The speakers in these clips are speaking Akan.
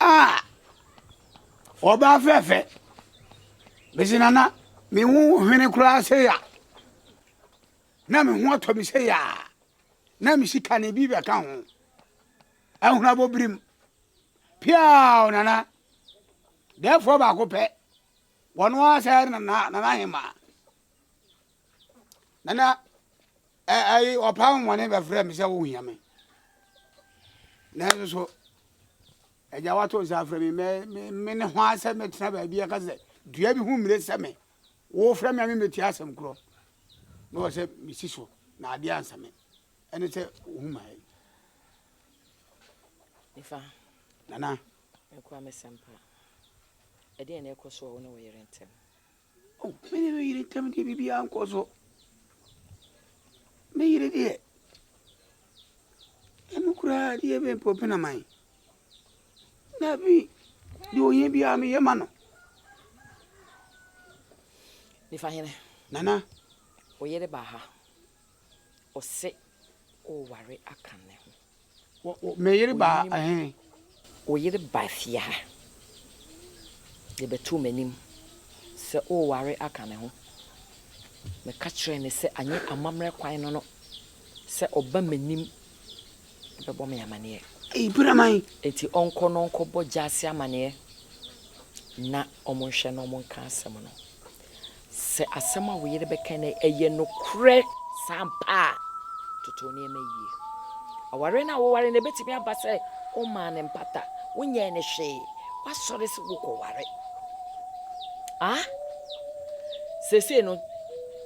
Ah! Ɔbaa fɛɛfɛ. Mese nana, me ho hwene koraa sɛ ya. Na me ho atɔ me sɛ ya. Na me sika no bi bɛka ho. Ahunabɔ birim. Piaw nana. Dɛɛfoɔ baako pɛ. Wɔn ara sɛ nana nana ahema. Nana. Ɛ ɛyi ɔpɛ ahoɔden bɛfrɛɛ me sɛ wohia me. Nanso so Agya woato nsa afrɛ me mɛ me me ne ho ara sɛ mɛtena baabi a ɛka sɛ dua bi ho mmire sɛ me. Wofrɛ me a memmɛtie asɛm korɔ na wɔ sɛ mesi so na adeɛ ansa me. Ɛne sɛ wohu ma ɛ. Nifa. Nana. Mekura me sɛmpa. Ɛdeɛn na ɛkɔ so wɔ wo ne wo yere ntam? Me ne me yere ntam deɛ biribiara nkɔ so. Me yere deɛ, ɛno koraa deɛ ɛbɛyɛ mpo ɛbɛpɛ na man. Na afei deɛ ohia biara meyɛ ma no. Nifa hene. Nana. Oyere ba ha. Ɔse oware aka ne ho. Me yere ba he. Wo yere ba fie ha. Yɛbɛtoo m'anim sɛ oware aka ne ho. Meka kyerɛɛ no sɛ anyɛ amammerɛ kwan no no sɛ ɔba m'anim. bɛbɔ me amaneɛ. Eyi bura man. Enti ɔnkɔ na ɔnkɔbɔ Gyasi amaneɛ na wɔnhwɛ na wɔnka asɛm no. Sɛ asɛm a wo yere bɛka no yɛ nokorɛ saa ampa a, toto nneɛma yie. Awareɛ no a wowaree no, ɛbɛtumi aba sɛ wommaa no mpata, wonyɛɛ no hwee, woasɔre sɛ wokɔware. Ah? Seesei no,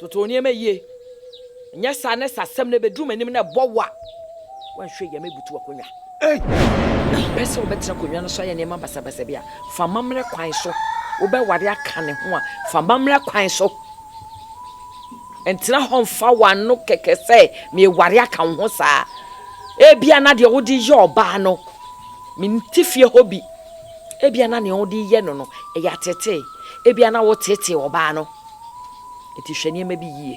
Toto wo nneɛma yie, nyɛ saa na sɛ asɛm no ɛbɛduru m'anim na ɛbɔ wo a, woanhwɛ yie a mɛbutu w'akonnwa. Na ɛbɛyɛ sɛ wobɛtena akonnwa no so ayɛ nneɛma basabasa bi a, fa amammerɛ kwan so. Wobɛware aka ne ho a, fa amammerɛ kwan so. Ntena hɔ mfa w'ano kɛkɛ sɛ mereware aka wo ho saa. Ebia na deɛ wode yɛ ɔbaa no, mente fie hɔ bi. Ebia na nea wode yɛ no no, ɛyɛ ateetee. Ebia na woteetee ɔbaa no. Enti hwɛ nneɛma bi yie.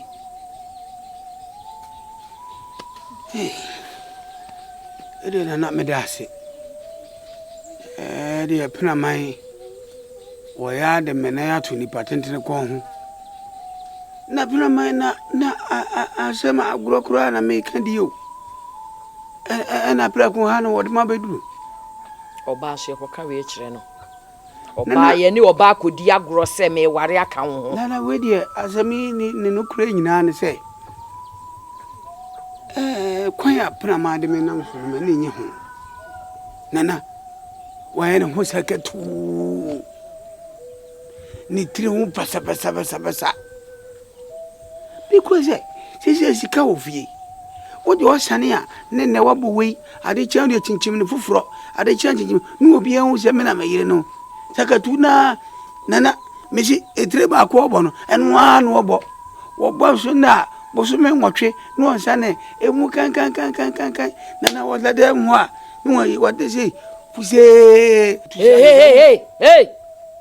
Hey, ɛdeɛ na na meda ase. Ɛdeɛ penaman wɔyɛ ade mmenan ato nipa tentene kɔn ho. Na penaman na na asɛm agorɔ koraa na meka di o. Ɛna prɛko ha na wɔde ma bɛduru. Ɔbaa so yɛkɔka wei kyerɛ no. Ɔbaa, yɛne ɔbaa kɔdi agorɔ sɛ meeware aka wo ho. Nana, wei deɛ asɛm yi ne ne nokorɛ nyinaa ne sɛ, ɛɛ, kwan a Penamaa de me nam so no, m'ani nnye ho. Nana, wayɛ ne ho sakatuu, ne tiri ho basabasabasabasa. Ne kura sɛ sɛsɛ sika wɔ fie wode ɔsane a ne nɛ wabɔ wei ade kyɛ wode kyinkyim no foforɔ ade kyɛ kyinkyim ne obi ahu sɛ me na me yere no sakatu naa nana mesi etire baako ɔbɔ no ɛno ara na ɔbɔ wɔbɔ so nɛ a bosome nwɔtwe ne ɔnsane ɛmu kankankankankan nana wɔda dɛ mu a ne wɔyi wɔde sei fusee hey hey hey hey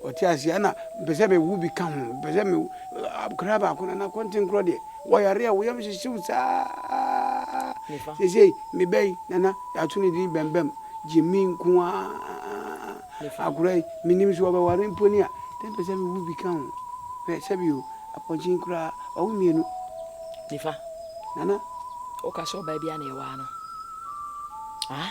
Ɔte aseɛ ɛna mpɛ sɛ mewo bi ka ho mpɛ sɛ mewo akwadaa baako nana kɔntenkorɔ deɛ wɔyare a wo yam hyehye wo saa seesei me ba yi nana yɛato ne din bɛmbɛm gyimi nko ara akwadaa yi menim so ɔbɛware mpo ni a dɛ mpɛ sɛ mewo bi ka ho hwɛ sɛbi o apɔnkyen koraa wawo mmienu nifa nana woka sɛ ɔbaa bi a na ɛwaa no ah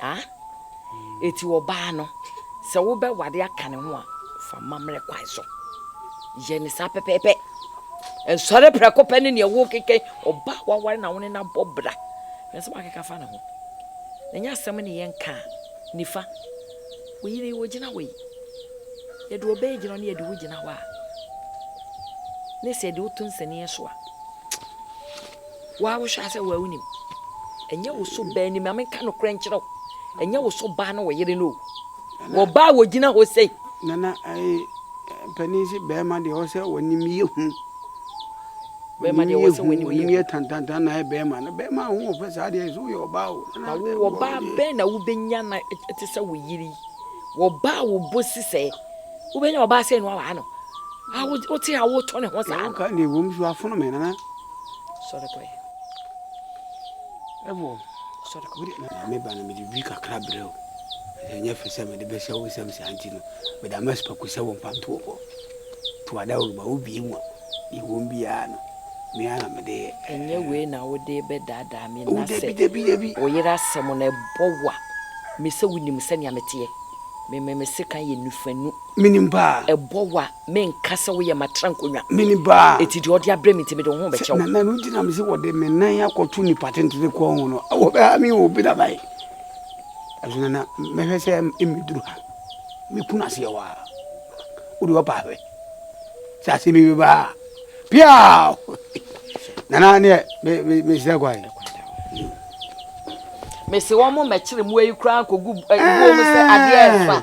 Ah? Enti ɔbaa no, sɛ wobɛware aka ne ho a, fa mmammerɛ kwan so. Yɛ ne saa pɛpɛɛpɛ. Nsɔre prɛko pɛ ne nea ɛwɔ kekɛ ɔbaa a waware na wo ne no abɔ bra. Hwɛ sɛ wakeka fa ne ho. Na nyɛ asɛm ne yɛn ka a, nifa. Wo yere yi, ogyina hɔ yi. Yɛde ɔbaa gyina hɔ ne yɛde wo gyina hɔ a, ne sɛ yɛde wo to nsɛnniiɛ so a, Wo ara wohwɛ a sɛ wo ara wonim. Ɛnyɛ wo so baa ni, ma menka nokorɛ nkyerɛ wo, ɛnyɛ wo so baa ne wo yere no o. Wɔbaa a wɔgyina hɔ sei. Nana, ɛɛ, panin se barima deɛ ɔwɔ sɛ ɔnim yɛ hu. Barima deɛ ɔwɔ sɛ ɔnim yɛ hu. Ɔnim yɛ tantantan na ayɛ barima. Na barima ho ɔfɛ saa deɛ sɛ woyɛ ɔbaa o. Na wo ɔbaa bɛn na wobɛnya na ɛte sɛ wo yere yi? Wɔbaa wo bo si sɛ wobɛnya ɔbaa sɛ no awaa no. A wote a wotɔ ne ho saa no. Woka deɛ wɔ mu so afono me nana. Sɔre kɔ ɛ. Ɛwɔ. Sɔre kɔ. Wode ɛna me ba no mede dwi kakra brɛ o. Sɛ nyɛ fɛ sɛ mede bɛhyɛ wo nsɛm saa nti no, mede ama sipaku sɛ wo mpantoɔ kɔ. To adawuruma wo bie mu a, deɛ ɛwom biara no, me ara na mede yɛ. Ɛnyɛ wei na wode bɛdaadaa me na sɛ wo yere asɛm no ɛbɔ wo a, me sɛ wonim sɛnea meteɛ. Me me me sekan yɛ nufanu. Menim paa. Ɛbɔ wo a, Menka sɛ woyɛ m'atrankonnwa. Me ne ba a. Enti deɛ ɔde abrɛ me nti mede wo ho bɛkyɛ wo. Sɛ nana no nti na mese wɔde me nan akɔto nnipa tentene kɔn ho no, wɔbɛha me o, Peter bae. Ɛso nana, mɛhwɛ sɛ mmɛduru ha. Mɛku no aseɛ hɔ ara. Wode wɔpa ahwɛ. Sɛ asɛm bi bɛba a, piaw! Nana neɛ, mesrɛ kwae. Mese wɔn mmɛkyere mmoa yi koraa nkɔgu buo mu sɛ adeɛ ɛfa.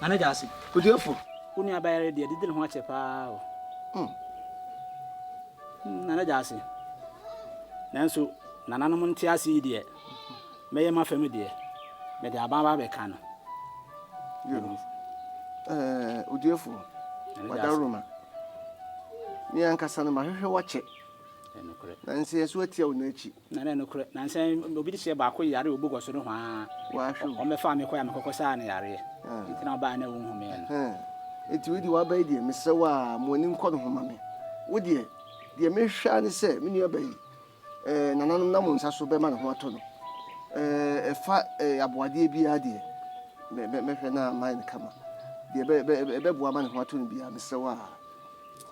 Nana Gyasi, Oduafo, wo nua bayare deɛ didi ne ho akyɛ paa o. Mm. Mm, Nana Gyasi. Nanso, nananom nte ase yi deɛ, mɛyɛ ma fam deɛ, mede aban ba bɛka no. Yo. Eh, Oduafo, wadaroma. Me ankasa no mahwehwɛ wakyɛ. Ɛnokorɛ. Nanso yɛn so atia wo n'akyi. Na na nokorɛ, nansa yi obi deseɛ baako yareɛ obu kɔ so no hwaa. Wahwɛ o. Wɔn bɛfaa me kɔɛ a me kɔkɔ saa no yareɛ. Nti na wɔbaɛ a na wɔnhu me no. Ɛhɛɛ. Nti wei deɛ waba yi deɛ mesrɛ wo aa ma w'ani nkɔ ne ho ma me. Wo deɛ, deɛ me hwɛ ara ne sɛ me nua ba yi, ɛɛ nananom nam wo nsa so bɛma ne ho atɔ no. Ɛɛ ɛfa ɛɛ aboadeɛ biara deɛ, mɛ mɛ mɛhwɛ na mayɛ no kama. Deɛ ɛbɛ ɛbɛ ɛbɛboa ama ne ho atɔ no biara, mesrɛ wo aa.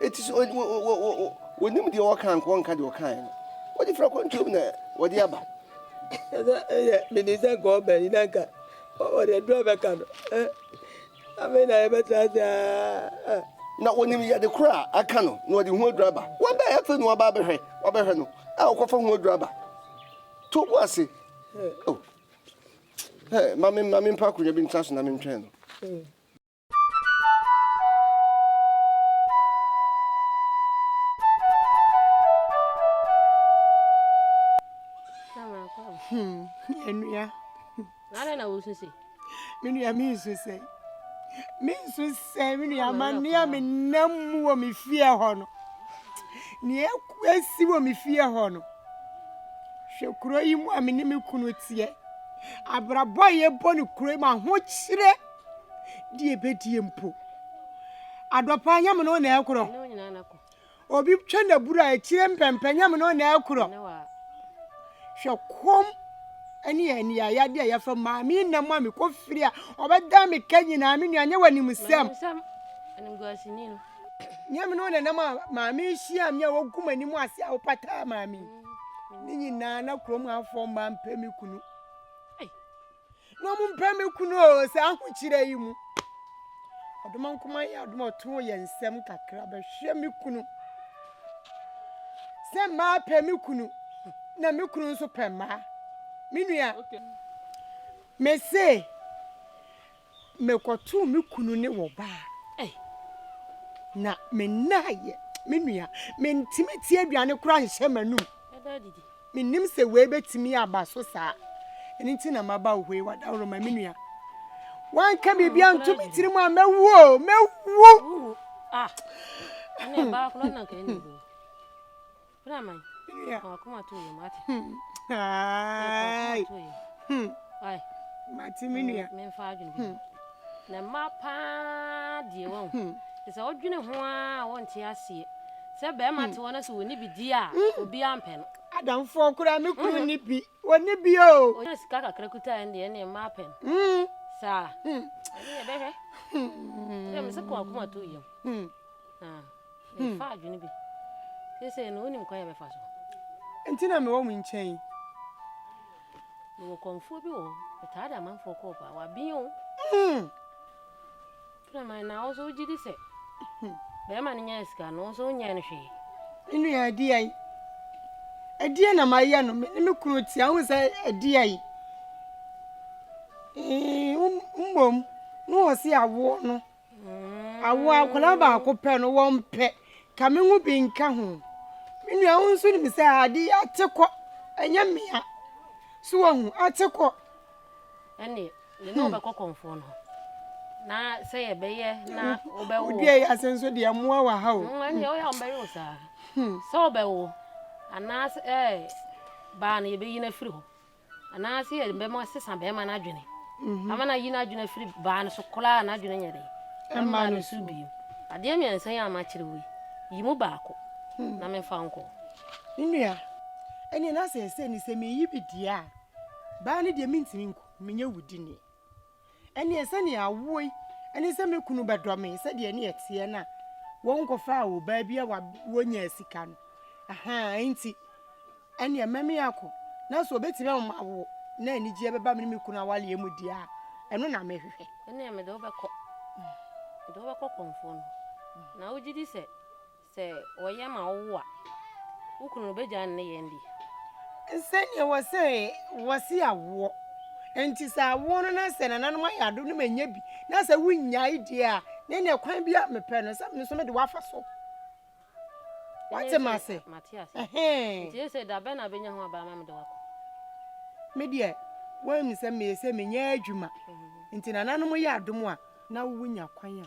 Enti so wɔnim deɛ ɔka anka ɔnka deɛ ɔkaeɛ no? Wɔde firi akwantuom na wɔde aba. Ɛsɛ ɛyɛ menim sɛ nka ɔbɛn yi na nka wɔde aduro bɛka no. Afei na yɛbɛtra ase aa. Na wɔnim yɛde korɔ a aka no na wɔde ho aduro aba. Wɔbɛn afei na wɔaba abɛhwɛ wɔbɛhwɛ no a wɔkɔfa ho aduro aba. To bo ase. Oh. Hey, ma me ma me mpa akonnwa bi ntra so na mentwɛn no. Enua. Nana na wosu se. Me nua me nsu sɛ. Me nsu sɛ me nua ma nea me nam mu wɔ me fie hɔ no. Nea esi wɔ me fie hɔ no. Hwɛ kuro yi mu a me ne me kunu teɛ. Abrabɔ a yɛbɔ no kuro yi mu ahokyerɛ. deɛ bɛdie mpo adɔpa nyɛ mono na ɛkorɔ obi twɛ na buru a ɛkyire mpɛmpɛ nyɛ mono na ɛkorɔ hwɛ kom ɛne ɛnea yadeɛ a yɛfrɛ maame nna mu a mekɔ firi a ɔbɛda me ka nyinaa me nua nyɛ wɔ anim sɛm nyɛ mono na nam a maame hyia me a wɔgu m'anim ase a wopataa maame ne nyinaa na kurom afoɔ mmaa mpɛ me kunu na wɔn mpɛ me kunu o sɛ ahokyerɛ yi mu ɔdoma nkoma yɛ adoma ɔtoo yɛ nsɛm kakra bɛhwɛ me kunu sɛ mmaa pɛ me kunu na me kunu nso pɛ mmaa me nua me se mekɔtoo me kunu ne wɔ baa na mennaayɛ me nua mentimi ti aduane koraa nhyɛ m'anum Mennim sɛ wei bɛtumi aba so saa. Ɛno nti na maba wo hɔ yi, w'adaworoma, me nua. Woanka biribi anto me tirim a, mɛwu o, mɛwu! Ah, ɛne ɛbaa korɔ na nka ɛne wu. Bra man, wakoma to yɛ mate. Wakoma to yɛ. Mate me nua. Memfa adwene bi. Na mma paa deɛ wahu te sɛ wodwene ho ara a wonte aseɛ sɛ bɛrima te hɔ na sɛ ɔni bi di a obiara mpɛ no. Adamfoɔ koraa me kunu nni bi ɔnni bi oo. Ɔnya sika kakra kuta ɛndeɛ ɛneɛ mmaa pɛ no saa ɛneɛ bɛhwɛ ɛdeɛ me se kɔ akoma to yam na ɛfa adwene bi seesei no wonim kwan a bɛfa so. Nti na mewɔ mo nkyɛn yi. Mewɔ kɔmfoɔ bi wɔ hɔ, metaa de amanfoɔ kɔɔ paa, waben o. Hmm. Ɛna man na ɔsɔ wogye di sɛ bɛrima no nyɛ sika no ɔsɔ wonyɛ no hwee. Me nua ɛdeɛ yi, ɛdeɛ na mayɛ no, me ne me kunu tia ho sɛ ɛdeɛ yi. Mmom, ne wɔ se awoɔ no. Awo akwadaa baako pɛ no, wɔmpɛ. Ka me ho bi nka ho. Me nua, wo nso nim sɛ ade yi ate kɔ, ɛnyɛ mmea. So wahu, ate kɔ. Ɛne, me ne hmm. wobɛkɔ kɔmfoɔ no na sɛ yɛbɛyɛ na hmm. wobɛwo. Wodua yi ase nso deɛ mmoa wɔ ha o. Hmm, ɛne, woyɛ wɔbɛwe wo saa. Sɛ wobɛwo, anaasɛ baa no yɛbɛyi no afiri hɔ. Anaase yɛ bɛma sesa bɛɛma no adwene ama no ayi n'adwene afiri baa no so koraa a n'adwene nyɛ dɛn? Ɛmmaa no so bio. Adeɛ mmiɛnsa yi a makyerɛ wo yi, yi mu baako na memfa nkɔ. Me nua, ɛnneɛ na sɛ ɛsɛ ni sɛ meyi bi deɛ a, baa no deɛ mentumi nkɔ, menyɛ wo dini. Ɛnneɛ sɛdeɛ awoɔ yi ne sɛ me kunu bɛdɔ me sɛdeɛ ne ɛteɛ no a, wɔnkɔfaa ɔbaa bi a wawoɔ nyaa sika no. Ahaa, enti ɛnneɛ mɛme akɔ. Na sɛ ɔbɛtumi ama mawoɔ na anigyeɛ bɛba me ne me kunu awaleɛ mu deɛ a, ɛno na mɛhwehwɛ. Ɛnneɛ mede wo bɛkɔ. Mede wo bɛkɔ kɔmfoɔ no. Na wogye di sɛ Sɛ wɔyɛ ma wo a, wo kunu no bɛgyae ne nneyɛɛ no bi? Sɛdeɛ ɛwɔ sɛ wɔse awoɔ nti, sɛ awoɔ no na sɛ nananom ayɛ ado no manya bi, na sɛ wonnyae deɛ a, ne deɛ kwan bi a mepɛ no sɛ me nso mede wo afa so. Woate me ase? Mate ase. Ɛhɛn. Nti ese da bɛn na abɛnya ho aba ama mede wo akɔ? Me deɛ, woahu sɛ meyɛ sɛ menyɛ adwuma, nti nananom yɛ adom a, na wonya kwan a.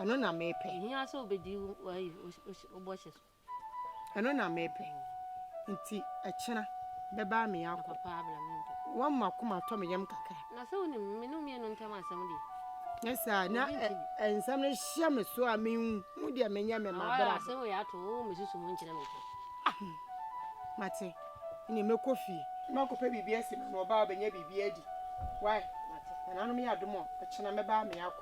Ɛno na mepɛ. Ehia sɛ obedi ayi wo bɔhyɛ so. Ɛno na mepɛ. Nti ɛkyena bɛba me akɔ. Na papa abla me mpɛ. Wɔn mu akoma atɔ me yam kakra. Na sɛ wonim me ne wo mmienu ntam asɛm deɛ. Nyɛ saa na nsɛm no hyɛ me so a menhu deɛ menyɛ me ma bra. Asɛm wei ato wo me susu ho nkyerɛ me pɛ. Ah mate ne mɛkɔ fie. Mɛkɔ pɛ biribi asi ma no ɔba ɔbɛnya biribi adi. Why? Mate. Nananom yɛ adom ɔ ɔkyena mɛba me akɔ.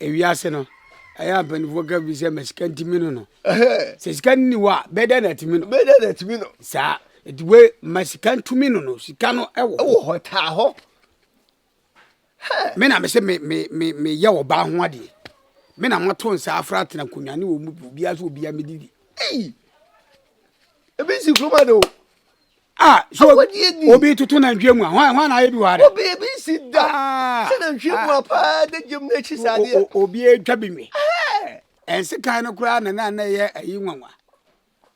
Ewiase no, ɛyɛ a mpanyimfoɔ ka bi sɛ ma sika ntumi no no. Sɛ sika no ni hɔ a, bɛdɛ na atumi no. Bɛdɛ na atumi no. Saa nti we ma sika ntumi no no sika no ɛwɔ hɔ. Ɛwɔ hɔ taa hɔ. Me na me se me me me me yɛ ɔbaa ho adeɛ. Me na mo to nsa afra atena nkonnwa ne wɔn mu obiara so obiara medidi. Ebi si kuruma de o. Ah, so obi obi tutu na ntwe mu a, hwan hwan na ayɛ bi wɔ ha dɛ? Obi ebi si da. Ah, Sɛ na ntwe mu a paa de gyem na ekyi saa deɛ. Obi etwa bi nwi. Ɛnse kan no koraa na na na ɛyɛ ayi nwanwa.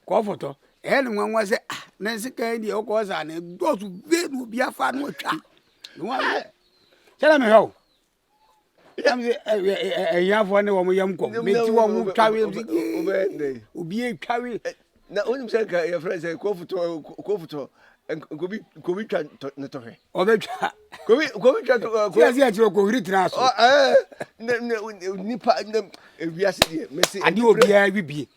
Kɔ foto. Ɛyɛ ne nwanwa sɛ ah, na ɛnse kan deɛ wokɔ saa na ɛdɔɔso vee na obi afa na ɔtwa. Sɛ na mehwɛ wo. ɛnam sɛ ahiafoɔ ne wɔn yam kɔm bɛti wɔn twawe obi atwawe na wonim sɛ nka yɛfrɛ sɛ kofotɔ nkobi nkobi twa ne tɔhwɛ ɔbɛtwa kobi kobi twa kobi ɛsɛ ɛkyerɛ kohiri tena so ɛɛ nipa ewiase deɛ mɛsi ade obiara wi bie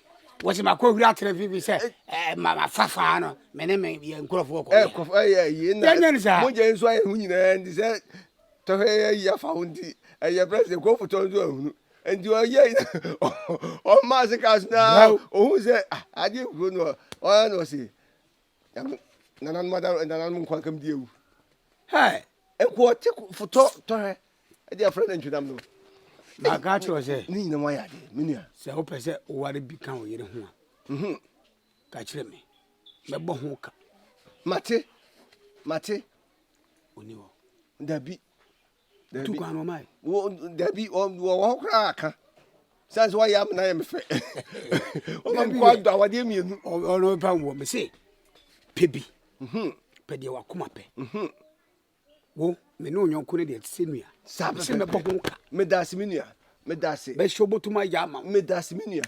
wɔsi ma kohiri atena fifi sɛ ɛɛ ma ma fafa no mɛ ne mɛ yɛ nkorɔfoɔ kɔ ɛɛ kɔfɔ ɛyɛ yie na yɛnyɛ ne saa mo gya nso ayɛ ho nyinaa ndi sɛ Tɔhɛ yɛ yi afa ho nti ɛyɛ president kɔ fotɔ nso ahunu nti ɔyɛ yi ɔma ase kas na ohun sɛ ah, adi kuro no ɔyɛ na ɔsi nananom ada nananom nkwa nkam di ewu hɛ nko ɔte fotɔ tɔhɛ ɛdi afra na ntwinam no. na aka akyerɛ sɛ ne nyina mu ayɛ ade me nua sɛ wopɛ sɛ woware bi ka wo yere ho a mhm. ka kyerɛ me mɛbɔ ho ka mate mate ɔni hɔ dabi dabi tukwan na ɔmae dabi wɔwɔ hɔ koraa aka sane sɛ wayɛ amena yɛ me fɛ ɔma mekɔ adɔ awadeɛ mmienu ɔno ba wɔ me se pɛ bi mhm. pɛ deɛ wakoma pɛ mhm. wo me ne onyɔnko no deɛ te sɛ nua sɛ mɛbɔ ho ka medase me nua medase bɛhyɛ wobɔtumi ayɛ ama medase me nua